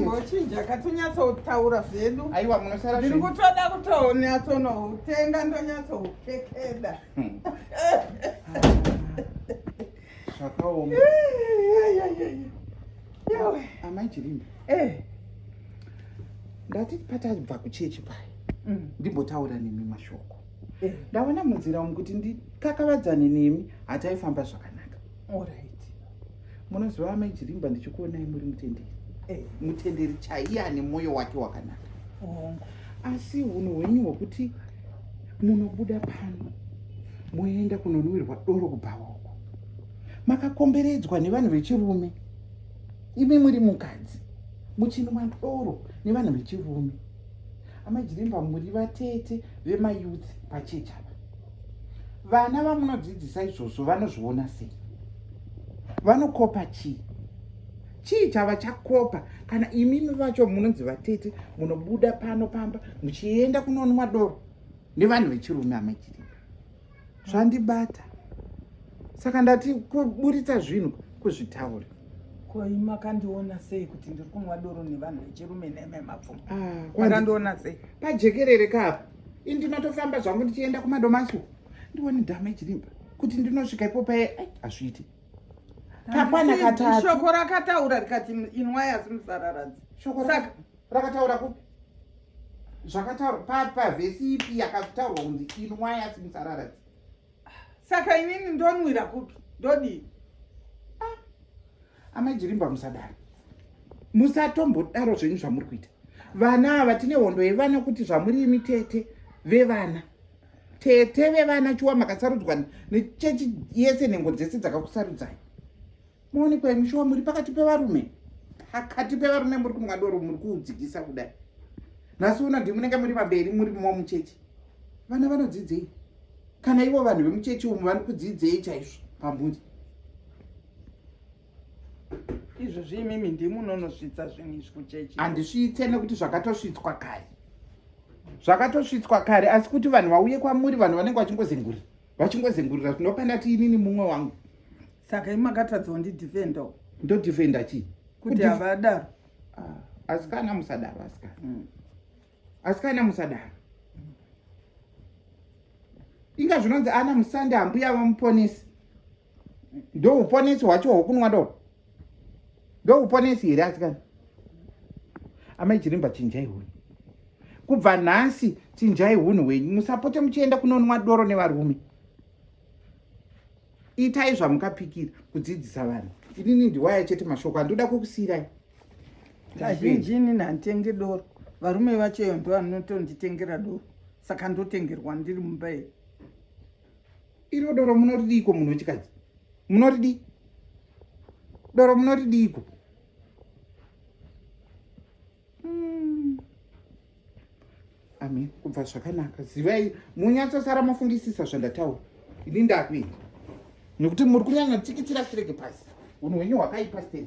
Ngochinja katinyatsotaura zvedu. Aiwa munosara zviri kutoda kutonyatsonoutenga ndonyatsoutekeda. Hmm. Zvakaoma. Amai Chirinda. Eh. Ndati patadva kuchechi paye. Hmm. Ndimbotaura nemi mashoko. Eh. Ndaona munzira umu kuti ndikakavadzane nemi hataifamba zvakanaka. Alright. Munoziva amai Chirimba ndichikuonai muri mutenderi. Eh, mutenderi chaiye ane moyo wake wakanaka. Oh. Asi hunhu hwenyu hwekuti munobuda pano moenda kunonwirwa doro kubhawa uko. Makakomberedzwa nevanhu vechirume. Imi muri mukadzi. Muchinwa doro nevanhu vechirume. Amai Chirimba muri vatete vemayouth pachechi apa. vana vamunodzidzisa izvozvo vanozviona sei vanokopa chii chii chava chakopa kana imimi vacho munonzi vatete munobuda pano pamba muchienda kunonwa doro nevanhu vechirume amachirima zvandibata saka ndati kuburitsa zvinhu kuzvitaura koi makandiona sei kuti ndiri kunwa doro nevanhu vechirume nememapfumo ah, makandiona sei pajekerere kapo ini ndinotofamba zvangu ndichienda kumadomaso ndione dhama ichirimba kuti ndinosvika ipo paye hazviiti kakwana katatshoko rakataura rikati inwai asi musararadzi shoko rakataura kupi zvakataura pavhesi ipi yakataurwa kunzi inwai asi musararadzi Saka inini ndonwira kupi? Ndodii? Ah. Amai Jirimba musadaro. Musatombodaro zvenyu zvamuri kuita. Vana ava tine hondo yevana kuti zvamuri imi tete vevana. Tete vevana chiwa makasarudzwa nechechi yese nhengo dzese dzakakusarudzai. Moonekwa imi shuwa muri pakati pevarume. Pakati pevarume muri kumwa doro muri kuudzikisa kudai. Nhasi uno ndimi munenge muri pamberi muri mumwe muchechi. Vana vanodzidzei? Kana ivo vanhu vemuchechi umu vani kudzidzei chaizvo pambunzi? izvo zviimimi ndimi unonosvitsa zvinhu izvi kuchechi handisvitse nekuti zvakatosvitswa kare zvakatosvitswa kare asi kuti vanhu vauye kwamuri vanhu vanenge vachingozenguri vachingozengurira tinopa ndati inini mumwe wangu saka imakatadza wandidefenda ndodefenda chii kuti havadaro ah, asikana musadaro asikana mm. asikana musadaro inga zvinonzi ana musande hambuya vamuponesi ndouponesi hwacho hwokunwa do ndouponesi here asikana amai chirimba chinjai hunhu kubva nhasi chinjai hunhu hwenyu musapote muchienda kunonwa doro nevarume itai zvamukapikira kudzidzisa vanhu inini ndiwaya chete mashoko andoda kukusiirai kazhinji inini handitenge doro varume vacheyo ndo vanotonditengera doro saka ndotengerwa ndiri mumba iyi iro doro munoridiiko munhu wechikadzi munoridii doro munoridiiko hmm. amen kubva zvakanaka zivai munyatsosara mafungisisa zvandataura ini ndakuita nekuti muri kunyanya tsikitsira chirege pasi unhu hwenyu hwakaipa stei